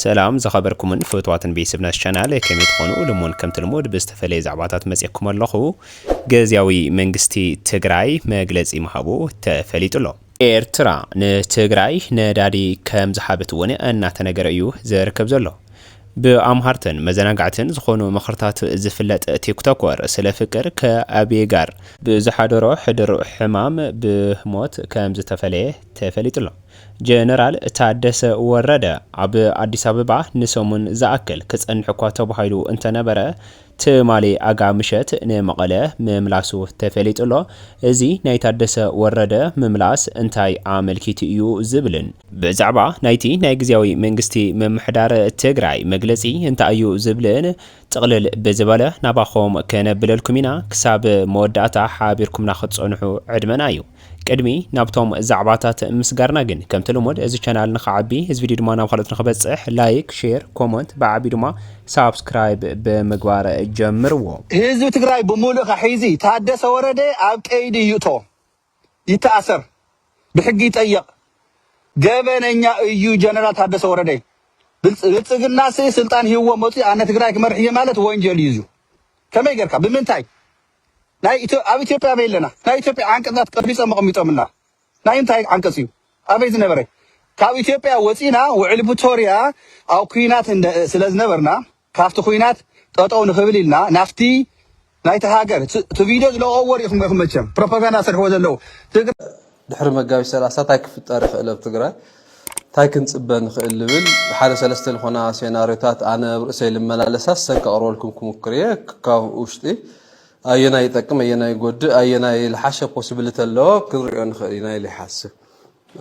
ሰላም ዝኸበርኩምን ፍትዋትን ቤት ስብ ናሽ ቻናል ከመይ ትኾኑ ልሙን ከምቲ ልሙድ ብዝተፈለየ ዛዕባታት መጽየኩም ኣለኹ ገዝያዊ መንግስቲ ትግራይ መግለጺ ምሃቡ ተፈሊጡ ኣሎ። ኤርትራ ንትግራይ ነዳዲ ከም ዝሃበት እውን እናተነገረ እዩ ዝርከብ ዘሎ። ብኣምሃርትን መዘናጋዕትን ዝኾኑ ምኽርታት ዝፍለጥ ቲክቶኮር ስለ ፍቅር ከኣብየ ጋር ብዝሓደሮ ሕድር ሕማም ብሞት ከም ዝተፈለየ ተፈሊጡ'ሎ። ጀነራል ታደሰ ወረደ ኣብ ኣዲስ ኣበባ ንሰሙን ዝኣክል ክጸንሕ'ኳ ተባሂሉ እንተነበረ፣ ትማሊ ኣጋ ምሸት ንመቐለ ምምላሱ ተፈሊጡ'ሎ። እዚ ናይ ታደሰ ወረደ ምምላስ እንታይ ኣመልኪቱ እዩ ዝብልን፣ ብዛዕባ ናይቲ ናይ ግዝያዊ መንግስቲ ምምሕዳር ትግራይ መግለጺ እንታይ እዩ ዝብልን ጥቕልል ብዝበለ ናባኹም ከነብለልኩም ኢና። ክሳብ መወዳእታ ሓቢርኩምና ክትጸንሑ ዕድመና እዩ። ቅድሚ ናብቶም ዛዕባታት ምስጋርና ግን ከምቲ ልሙድ እዚ ቻናል ንክዓቢ እዚ ቪድዮ ድማ ናብ ካልኦት ንክበጽሕ ላይክ ሼር ኮሞንት ብዓቢኡ ድማ ሳብስክራይብ ብምግባር ጀምርዎ። ህዝቢ ትግራይ ብሙሉእካ ሒዚ ታደሰ ወረደ ኣብ ቀይዲ ይእቶ ይተኣሰር ብሕጊ ይጠየቅ ገበነኛ እዩ ጀነራል ታደሰ ወረደ ብልፅግናሲ ስልጣን ሂብዎ መፅዩ ኣነ ትግራይ ክመርሕ እየ ማለት ወንጀል እዩ እዙ ከመይ ገርካ ብምንታይ ናይ ኢትዮ ኣብ ኢትዮጵያ ኣበይ ኣለና ናይ ኢትዮጵያ ዓንቀጻት ቀርቢጾም ኣቐሚጦምልና ናይ እንታይ ዓንቀጽ እዩ ኣበይ ዝነበረ ካብ ኢትዮጵያ ወጺና ውዕሊ ፕቶርያ ኣብ ኩናት እንደ ስለ ዝነበርና ካብቲ ኩናት ጠጠው ንኽብል ኢልና ናፍቲ ናይቲ ሃገር እቲ ቪድዮ ዝለቀዎ ሪኢኹም ኢኹም መቸም ፕሮፓጋንዳ ዝሰርሕዎ ዘለዉ ትግረ ድሕሪ መጋቢት ሰላሳ ታይ ክፍጠር ይኽእል ኣብ ትግራይ ታይ ክንፅበ ንኽእል ልብል ሓደ ሰለስተ ልኾና ሴናርዮታት ኣነ ኣብ ርእሰይ ልመላለሳ ሰን ከቕርበልኩም ክሙክር እየ ካብ ውሽጢ ኣየናይ ይጠቅም ኣየናይ ይጎድእ ኣየናይ ልሓሸ ፖሲብልቲ ኣለዎ ክንሪኦ ንኽእል ኢና ኢለ ይሓስብ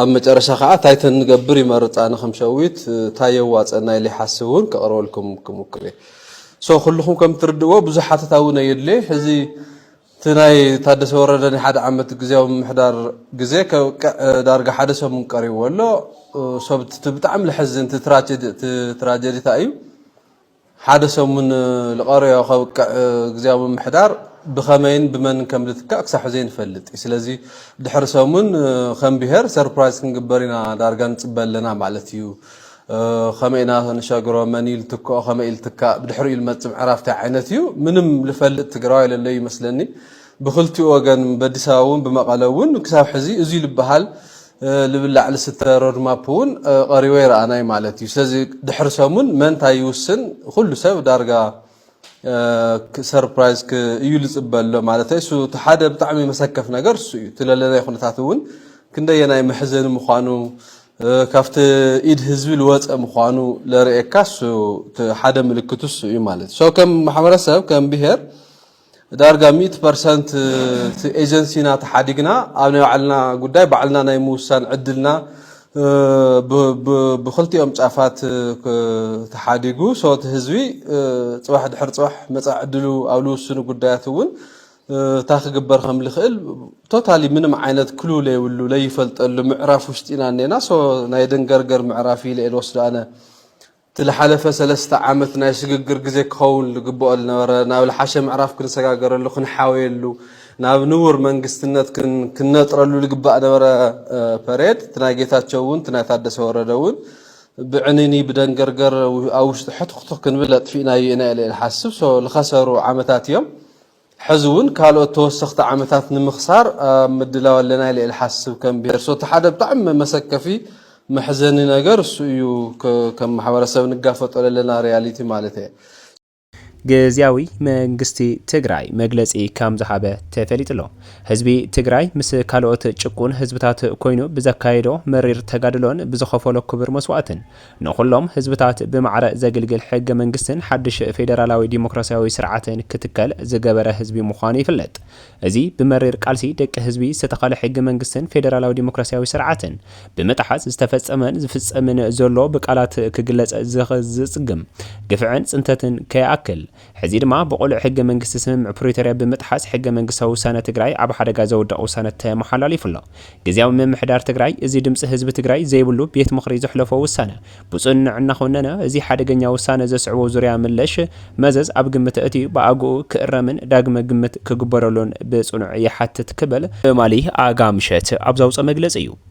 ኣብ መጨረሻ ከዓ ታይ ተንገብር ይመርፅ ኣነ ከም ሸዊት ታይ የዋፀና ኢለ ይሓስብ እውን ከቕርበልኩም ክሙክር እየ ሶ ኩልኹም ከም ትርድእዎ ብዙሕ ሓተታ እውን ኣየድልየ ሕዚ እቲ ናይ ታደሰ ወረደ ናይ ሓደ ዓመት ግዝያዊ ምምሕዳር ግዜ ከብቅዕ ዳርጋ ሓደ ሰሙን ቀሪብዎ ኣሎ። ሰብ እቲ ብጣዕሚ ለሐዝን እቲ ትራጀዲ ታይ እዩ ሓደ ሰሙን ልቀረዮ ከብቅዕ ግዝያዊ ምምሕዳር ብኸመይን ብመንን ከም ልትካእ ክሳብ ሕዚ ኣይንፈልጥ እዩ። ስለዚ ድሕሪ ሰሙን ከም ብሄር ሰርፕራይዝ ክንግበር ኢና ዳርጋ ንፅበ ኣለና ማለት እዩ። ከመይ ኢና ክንሸግሮ መን እዩ ልትክኦ ከመይ እዩ ልትካእ ብድሕሪኡ ልመፅ ምዕራፍ ታይ ዓይነት እዩ ምንም ልፈልጥ ትግራዋይ ለለዩ ይመስለኒ ብክልቲኡ ወገን በዲስ ኣበባ እውን ብመቐለ እውን ክሳብ ሕዚ እዙይ ልበሃል ልብላዕ ልስተ ሮድማፕ እውን ቀሪቦ ይረኣናይ ማለት እዩ ስለዚ ድሕሪ ሰሙን መንታይ ይውስን ኩሉ ሰብ ዳርጋ ሰርፕራይዝ እዩ ዝፅበ ኣሎ ማለተይ እሱ እቲ ሓደ ብጣዕሚ መሰከፍ ነገር እሱ እዩ እቲ ለለናይ ኩነታት እውን ክንደየናይ መሕዘኒ ምዃኑ ካብቲ ኢድ ህዝቢ ዝወፀ ምዃኑ ለርእየካ እሱ እቲ ሓደ ምልክቱ እሱ እዩ ማለት ሶ ከም ማሕበረሰብ ከም ብሄር ዳርጋ ሚእቲ ፐርሰንት እቲ ኤጀንሲና ተሓዲግና ኣብ ናይ ባዕልና ጉዳይ ባዕልና ናይ ምውሳን ዕድልና ብኽልቲኦም ጫፋት ተሓዲጉ ሶ እቲ ህዝቢ ፅባሕ ድሕሪ ፅባሕ መፃኢ ዕድሉ ኣብ ልውስኑ ጉዳያት እውን እንታይ ክግበር ከም ዝኽእል ቶታሊ ምንም ዓይነት ክሉ ለይብሉ ለይፈልጠሉ ምዕራፍ ውሽጢ ኢና እኔና ሶ ናይ ደንገርገር ምዕራፍ ኢለ እየ ዝወስዶ ኣነ እቲ ልሓለፈ ሰለስተ ዓመት ናይ ስግግር ግዜ ክኸውን ልግበኦ ልነበረ ናብ ልሓሸ ምዕራፍ ክንሰጋገረሉ ክንሓውየሉ ናብ ንቡር መንግስትነት ክንነጥረሉ ልግባእ ነበረ ፐሬድ እቲ ናይ ጌታቸው ውን እቲ ናይ ታደሰ ወረደ ውን ብዕንይንይ ብደንገርገር ኣብ ውሽጢ ሕትኽቱኽ ክንብል ኣጥፊእናዮ ኢና ኢለ ኢየ ልሓስብ so ልኸሰሩ ዓመታት ኢዮም። ሕዚ እውን ካልኦት ተወሰኽቲ ዓመታት ንምኽሳር ኣብ ምድላው ኣለና ኢለ ልሓስብ ከም ብሄር። ሶቲ ሓደ ብጣዕሚ መሰከፊ መሕዘኒ ነገር እሱ እዩ ከም ማሕበረሰብ ንጋፈጦ ለለና ሪያሊቲ ማለት እየ። ግዝያዊ መንግስቲ ትግራይ መግለፂ ከም ዝሃበ ተፈሊጡ'ሎ። ህዝቢ ትግራይ ምስ ካልኦት ጭቁን ህዝብታት ኮይኑ ብዘካየዶ መሪር ተጋድሎን ብዝኸፈሎ ክቡር መስዋእትን ንኹሎም ህዝብታት ብማዕረ ዘግልግል ሕገ መንግስትን ሓድሽ ፌደራላዊ ዲሞክራሲያዊ ስርዓትን ክትከል ዝገበረ ህዝቢ ምዃኑ ይፍለጥ። እዚ ብመሪር ቃልሲ ደቂ ህዝቢ ዝተተኸለ ሕገ መንግስትን ፌደራላዊ ዲሞክራሲያዊ ስርዓትን ብምጥሓስ ዝተፈጸመን ዝፍጸምን ዘሎ ብቃላት ክግለጽ ዘጽግም ግፍዕን ጽንተትን ከይኣክል ሕዚ ድማ ብቕሉዕ ሕገ መንግስቲ ስምምዕ ፕሪቶርያ ብምጥሓስ ሕገ መንግስታዊ ውሳነ ትግራይ ኣብ ሓደጋ ዘውድቕ ውሳነ ተመሓላሊፉ ኣሎ። ግዝያዊ ምምሕዳር ትግራይ እዚ ድምፂ ህዝቢ ትግራይ ዘይብሉ ቤት ምኽሪ ዘሕለፎ ውሳነ ብፅኑዕ እናኾነነ እዚ ሓደገኛ ውሳነ ዘስዕቦ ዙርያ መለሽ መዘዝ ኣብ ግምት ኣእትዩ ብኣግኡ ክእረምን ዳግመ ግምት ክግበረሉን ብፅኑዕ ይሓትት ክብል ትማሊ ኣጋ ምሸት ኣብ ዘውፀ መግለፂ እዩ።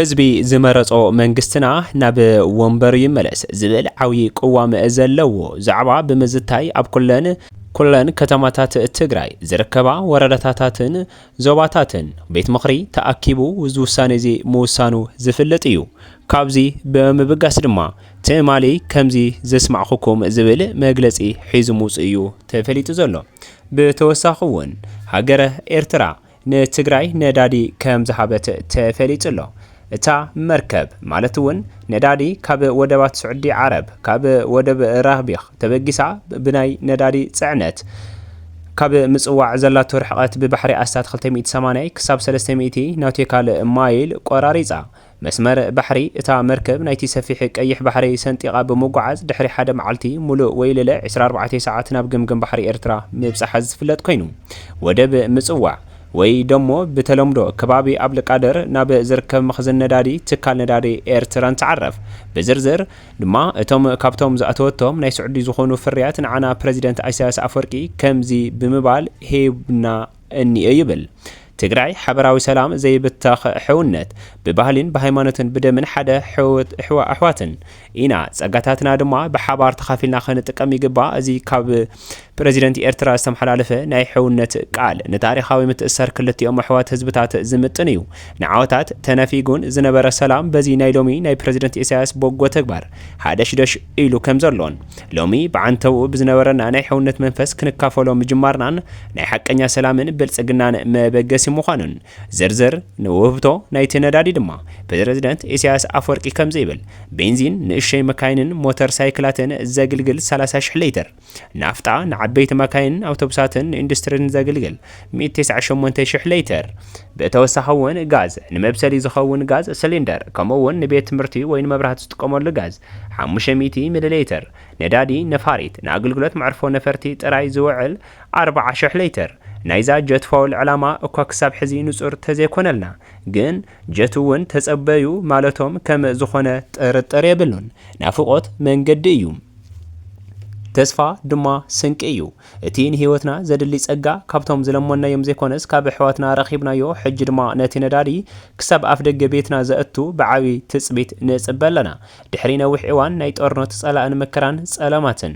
ህዝቢ ዝመረጾ መንግስትና ናብ ወንበሩ ይመለስ ዝብል ዓብይ ቅዋም ዘለዎ ዛዕባ ብምዝታይ ኣብ ኩለን ኩለን ከተማታት ትግራይ ዝርከባ ወረዳታታትን ዞባታትን ቤት ምኽሪ ተኣኪቡ እዚ ውሳኔ እዚ ምውሳኑ ዝፍልጥ እዩ። ካብዚ ብምብጋስ ድማ ትማሊ ከምዚ ዘስማዕኹኩም ዝብል መግለጺ ሒዙ ምውጽኡ እዩ ተፈሊጡ ዘሎ። ብተወሳኺ እውን ሃገረ ኤርትራ ንትግራይ ነዳዲ ከምዝሃበት ተፈሊጡ'ሎ። እታ መርከብ ማለት'ውን ነዳዲ ካብ ወደባት ስዑዲ ዓረብ፣ ካብ ወደብ ራህቢኽ ተበጊሳ ብናይ ነዳዲ ፅዕነት ካብ ምፅዋዕ ዘላቶ ርሕቐት ብባሕሪ ኣስታት ክልተ ሚእቲ ሰማንያ ክሳብ ሰለስተ ሚእቲ ናውቲካል ማይል ቆራሪፃ መስመር ባሕሪ፣ እታ መርከብ ናይቲ ሰፊሕ ቀይሕ ባሕሪ ሰንጢቓ ብምጉዓዝ ድሕሪ ሓደ መዓልቲ ሙሉእ ወይ ልለ ዕስራ ኣርባዕተ ሰዓት ናብ ገምገም ባሕሪ ኤርትራ ምብጻሓ ዝፍለጥ ኮይኑ ወደብ ምጽዋዕ ወይ ደሞ ብተለምዶ ከባቢ ኣብልቃደር ናብ ዝርከብ መኽዝን ነዳዲ ትካል ነዳዲ ኤርትራ ንትዓረፍ ብዝርዝር ድማ እቶም ካብቶም ዝኣተወቶም ናይ ስዑዲ ዝኾኑ ፍርያት ንዓና ፕረዚደንት ኢሳያስ ኣፍወርቂ ከምዚ ብምባል ሂቡና እኒኦ ይብል ትግራይ ሓበራዊ ሰላም ዘይብተኽ ሕውነት ብባህሊን ብሃይማኖትን ብደምን ሓደ ሕውት ኣሕዋትን ኢና ፀጋታትና ድማ ብሓባር ተኻፊልና ክንጥቀም ይግባእ እዚ ካብ ፕረዚደንት ኤርትራ ዝተመሓላለፈ ናይ ሕውነት ቃል ንታሪኻዊ ምትእስሳር ክልቲኦም ኣሕዋት ህዝብታት ዝምጥን እዩ ንዓወታት ተነፊጉን ዝነበረ ሰላም በዚ ናይ ሎሚ ናይ ፕረዚደንት ኢሳያስ በጎ ተግባር ሃደሽደሽ ኢሉ ከም ዘሎን፣ ሎሚ ብዓንተብኡ ብዝነበረና ናይ ሕውነት መንፈስ ክንካፈሎ ምጅማርናን ናይ ሓቀኛ ሰላምን ብልጽግናን መበገሲ ምዃኑን፣ ዝርዝር ንውህብቶ ናይቲ ነዳዲ ድማ ፕረዚደንት ኢሳያስ ኣፍወርቂ ከምዚ ይብል፣ ቤንዚን ንእሽቶይ መካይንን ሞተር ሳይክላትን ዘግልግል ሰላሳ ሽሕ ሊትር። ናፍጣ ንዓበይቲ መካይንን ኣውቶቡሳትን ንኢንዱስትሪን ዘግልግል ሚእቲ ተስዓን ሸሞንተን ሽሕ ሌትር። ብተወሳኺ እውን ጋዝ፣ ንመብሰሊ ዝኸውን ጋዝ ስሊንደር፣ ከምኡ እውን ንቤት ትምህርቲ ወይ ንመብራህቲ ዝጥቀመሉ ጋዝ ሓሙሽተ ሚእቲ ሚሊ ሌትር፣ ነዳዲ ነፋሪት፣ ንኣገልግሎት መዕርፎ ነፈርቲ ጥራይ ዝውዕል ኣርብዓ ሽሕ ሌትር። ናይዛ ጀት ፋውል ዕላማ እኳ ክሳብ ሕዚ ንጹር ተዘይኮነልና ግን፣ ጀት ውን ተጸበዩ ማለቶም ከም ዝኾነ ጥርጥር የብሉን። ናፍቖት መንገዲ እዩ። ተስፋ ድማ ስንቂ እዩ። እቲ ንህይወትና ዘድሊ ጸጋ ካብቶም ዝለመንናዮም ዘይኮነስ ካብ ኣሕዋትና ረኺብናዮ ሕጂ ድማ ነቲ ነዳዲ ክሳብ ኣፍደገ ቤትና ዘእቱ ብዓቢ ትጽቢት ንጽበ ኣለና። ድሕሪ ነዊሕ እዋን ናይ ጦርነት ጸላእን መከራን ጸለማትን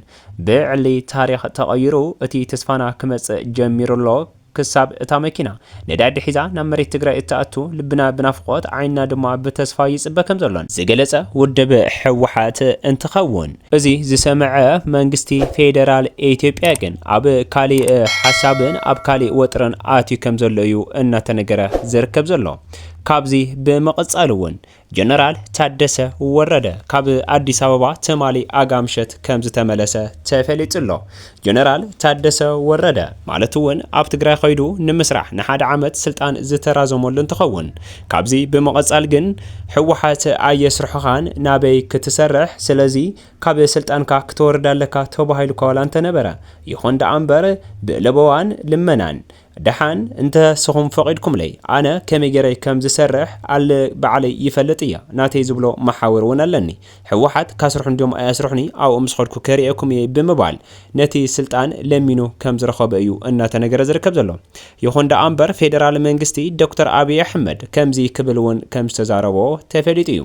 ብዕሊ ታሪኽ ተቐይሩ እቲ ተስፋና ክመጽእ ጀሚሩ'ሎ። ክሳብ እታ መኪና ነዳዲ ሒዛ ናብ መሬት ትግራይ እትኣቱ ልብና ብናፍቖት ዓይንና ድማ ብተስፋ ይፅበ ከምዘሎን ዝገለፀ ውድብ ህወሓት እንትኸውን፣ እዚ ዝሰመዐ መንግስቲ ፌደራል ኢትዮጵያ ግን ኣብ ካሊእ ሓሳብን ኣብ ካሊእ ወጥርን ኣትዩ ከምዘሎ እዩ እናተነገረ ዝርከብ ዘሎ። ካብዚ ብምቕፃል እውን ጀነራል ታደሰ ወረደ ካብ ኣዲስ ኣበባ ትማሊ ኣጋምሸት ከምዝተመለሰ ተፈሊጡ'ሎ። ጀነራል ታደሰ ወረደ ማለት'ውን ኣብ ትግራይ ከይዱ ንምስራሕ ንሓደ ዓመት ስልጣን ዝተራዘመሉ እንትኸውን ካብዚ ብምቕፃል ግን ህወሓት ኣየስርሑኻን ናበይ ክትሰርሕ ስለዚ ካብ ስልጣንካ ክትወርድ ኣለካ ተባሂሉ'ኳ ዋላ እንተነበረ ይኹን ደኣ'ምበር ብለበዋን ልመናን ደሓን እንተ ስኹም ፈቂድኩምለይ ኣነ ከመይ ገይረ ከም ዝሰርሕ ኣል ባዕለይ ይፈልጥ እየ ናተይ ዝብሎ መሓውር ውን ኣለኒ ሕወሓት ካስርሑኒ ድዮም ኣይኣስርሑኒ ኣብኡ ምስ ኸድኩ ከርእየኩም እየ ብምባል ነቲ ስልጣን ለሚኑ ከም ዝረኸቦ እዩ እናተነገረ ዝርከብ ዘሎ ይኹን ደኣ እምበር ፌደራል መንግስቲ ዶክተር ኣብይ ኣሕመድ ከምዚ ክብል ውን ከም ዝተዛረቦ ተፈሊጡ እዩ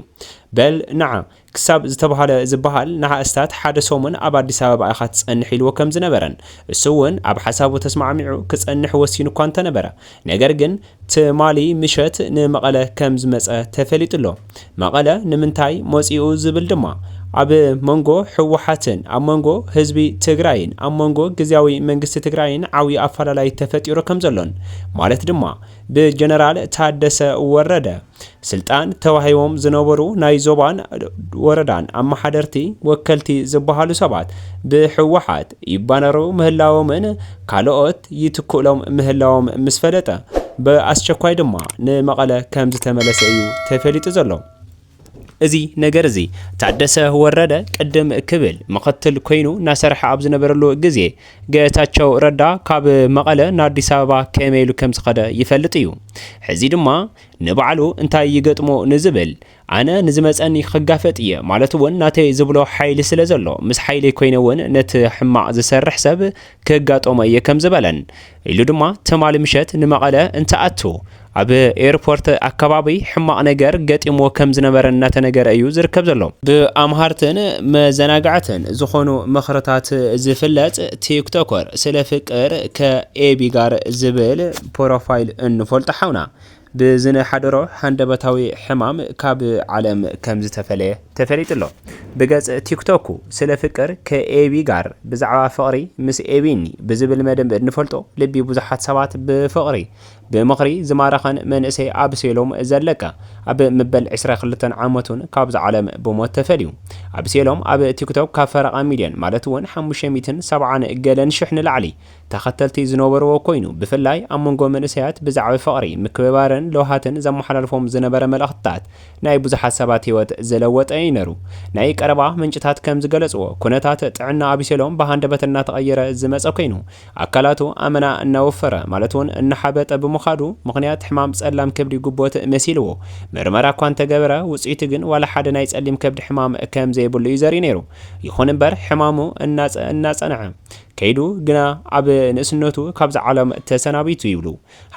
በል ንዓ ክሳብ ዝተባህለ ዝበሃል ንሃእስታት ሓደ ሰሙን ኣብ ኣዲስ ኣበባ ኢኻ ትጸንሕ ኢልዎ ከም ዝነበረን እሱ'ውን ኣብ ሓሳቡ ተስማዕሚዑ ክጸንሕ ወሲኑ እኳ እንተነበረ ነገር ግን ትማሊ ምሸት ንመቐለ ከም ዝመጸ ተፈሊጡ ኣሎ። መቐለ ንምንታይ መጺኡ ዝብል ድማ ኣብ መንጎ ህወሓትን ኣብ መንጎ ህዝቢ ትግራይን ኣብ መንጎ ግዝያዊ መንግስቲ ትግራይን ዓብዩ ኣፈላላይ ተፈጢሩ ከም ዘሎን ማለት ድማ ብጀነራል ታደሰ ወረደ ስልጣን ተዋሂቦም ዝነበሩ ናይ ዞባን ወረዳን ኣመሓደርቲ ወከልቲ ዝበሃሉ ሰባት ብህወሓት ይባነሩ ምህላዎምን ካልኦት ይትክእሎም ምህላዎም ምስ ፈለጠ ብኣስቸኳይ ድማ ንመቐለ ከም ዝተመለሰ እዩ ተፈሊጡ ዘሎ። እዚ ነገር እዚ ታደሰ ወረደ ቅድም ክብል ምኽትል ኮይኑ እናሰርሐ ኣብ ዝነበረሉ ግዜ ገታቸው ረዳ ካብ መቐለ ንኣዲስ ኣበባ ከመይ ኢሉ ከም ዝኸደ ይፈልጥ እዩ። ሕዚ ድማ ንባዕሉ እንታይ ይገጥሞ ንዝብል ኣነ ንዝመጸኒ ክጋፈጥ እየ ማለት ውን ናተይ ዝብሎ ሓይሊ ስለ ዘሎ ምስ ሓይለይ ኮይነ ውን ነቲ ሕማቕ ዝሰርሕ ሰብ ክጋጠሞ እየ ከም ዝበለን ኢሉ ድማ ትማሊ ምሸት ንመቐለ እንትኣቱ ኣብ ኤርፖርት ኣከባቢ ሕማቕ ነገር ገጢምዎ ከም ዝነበረ እናተነገረ እዩ ዝርከብ ዘሎ። ብኣምሃርትን መዘናግዕትን ዝኾኑ ምኽርታት ዝፍለጥ ቲክቶከር ስለ ፍቅር ከኤቢ ጋር ዝብል ፖሮፋይል እንፈልጦ ሓውና ብዝነሓደሮ ሃንደበታዊ ሕማም ካብ ዓለም ከምዝተፈለየ ተፈሊጡ ኣሎ። ብገጽ ቲክቶኩ ስለ ፍቅር ከኤቢ ጋር ብዛዕባ ፍቕሪ ምስ ኤቢኒ ብዝብል መደብ እንፈልጦ ልቢ ብዙሓት ሰባት ብፍቕሪ ብምኽሪ ዝማረኸን መንእሰይ ኣብሴሎም ዘለቀ ኣብ ምበል ዕስራ ክልተን ዓመቱን ካብዛ ዓለም ብሞት ተፈልዩ። ኣብሴሎም ኣብ ቲክቶክ ካብ ፈረቓ ሚልዮን ማለት'ውን ሓሙሽተ ሚእትን ሰብዓን ገለን ሽሕ ንላዕሊ ተኸተልቲ ዝነበርዎ ኮይኑ ብፍላይ ኣብ መንጎ መንእሰያት ብዛዕብ ፍቕሪ፣ ምክብባርን ለውሃትን ዘመሓላልፎም ዝነበረ መልእኽትታት ናይ ብዙሓት ሰባት ህይወት ዝለወጠ እዩ ነሩ። ናይ ቀረባ ምንጭታት ከም ዝገለጽዎ ኩነታት ጥዕና ኣቢሴሎም ብሃንደበት እናተቐየረ ዝመጸ ኮይኑ ኣካላቱ ኣመና እናወፈረ ማለት ውን እናሓበጠ ብምኻዱ ምኽንያት ሕማም ጸላም ከብዲ ጉቦት መሲልዎ ምርመራ እኳ እንተገበረ ውጽኢቱ ግን ዋላ ሓደ ናይ ጸሊም ከብዲ ሕማም ከም ዘይብሉ እዩ ዘርኢ ነሩ። ይኹን እምበር ሕማሙ እናጸ እናጸንዐ ከይዱ ግና ኣብ ንእስነቱ ካብዛ ዓለም ተሰናቢቱ ይብሉ።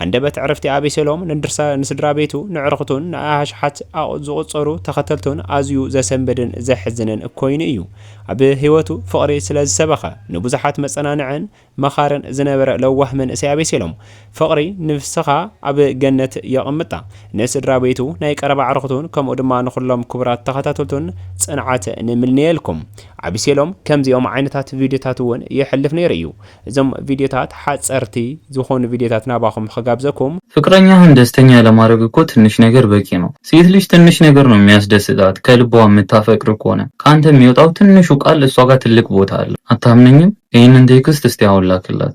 ሃንደበት ዕረፍቲ ኣቤሴሎም ንድርሰ ንስድራ ቤቱ፣ ንዕርኽቱን ንኣሽሓት ኣቕ ዝቑጸሩ ተኸተልቱን ኣዝዩ ዘሰንብድን ዘሕዝንን ኮይኑ እዩ። ኣብ ህይወቱ ፍቕሪ ስለ ዝሰበኸ፣ ንብዙሓት መጸናንዕን መኻርን ዝነበረ ለዋህ መንእሰይ ኣቤሴሎም፣ ፍቕሪ ንፍስኻ ኣብ ገነት የቐምጣ። ንስድራ ቤቱ፣ ናይ ቀረባ ኣዕሩኽቱን ከምኡ ድማ ንኹሎም ክቡራት ተኸታተልቱን ጽንዓት ንምንየልኩም። ኣቢሴሎም ከምዚኦም ዓይነታት ቪድዮታት ውን የሕልፍ ነይሩ እዩ። እዞም ቪድዮታት ሓጸርቲ ዝኾኑ ቪድዮታት ናባኹም ኽጋብዘኩም። ፍቅረኛህን ደስተኛ ለማረግ እኮ ትንሽ ነገር በቂ ነው ሴት ልጅ ትንሽ ነገር ነው ሚያስደስታት ከልቧ ምታፈቅር ከሆነ ካንተ ሚወጣው ትንሹ ቃል እሷ ጋር ትልቅ ቦታ አለው አታምነኝም ይህንን ቴክስት እስቲ አሁን ላክላት።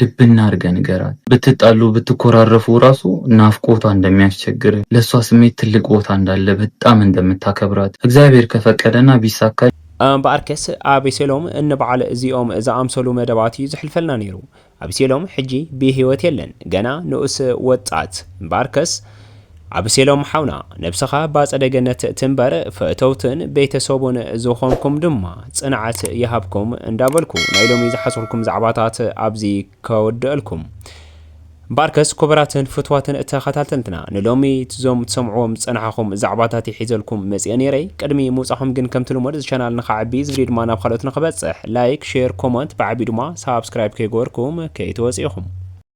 ድብና አርገ ንገራት ብትጣሉ ብትኮራረፉ ራሱ ናፍቆቷ እንደሚያስቸግር ለሷ ስሜት ትልቅ ቦታ እንዳለ በጣም እንደምታከብራት እግዚአብሔር ከፈቀደ እና ቢሳካ እምበኣርከስ ኣቤሴሎም እንበዓል እዚኦም ዝኣምሰሉ መደባት እዩ ዝሕልፈልና ነይሩ። ኣቤሴሎም ሕጂ ብሂወት የለን ገና ንኡስ ወጣት እምበኣርከስ ኣብሴሎም ሓውና ነብስኻ ባጸደ ገነት ትንበር ፈተውትን ቤተሰቡን ዝኾንኩም ድማ ጽንዓት ይሃብኩም እንዳበልኩ ናይ ሎሚ ዝሓዝኩልኩም ዛዕባታት ኣብዚ ከወደእልኩም ባርከስ ኩቡራትን ፍትዋትን ተኸታተልትና ንሎሚ ዞም ትሰምዕዎም ዝጸናሓኹም ዛዕባታት እየ ሒዘልኩም መጽየ ኔረ ቅድሚ ምውጻኹም ግን ከምቲ ልሙድ እዚ ቻናል ንኸዕቢ እዚ ቪድዮ ድማ ናብ ኻልኦት ንኽበጽሕ ላይክ ሼር ኮመንት ብዓቢኡ ድማ ሳብስክራይብ ከይገበርኩም ከይትወጽ ኢኹም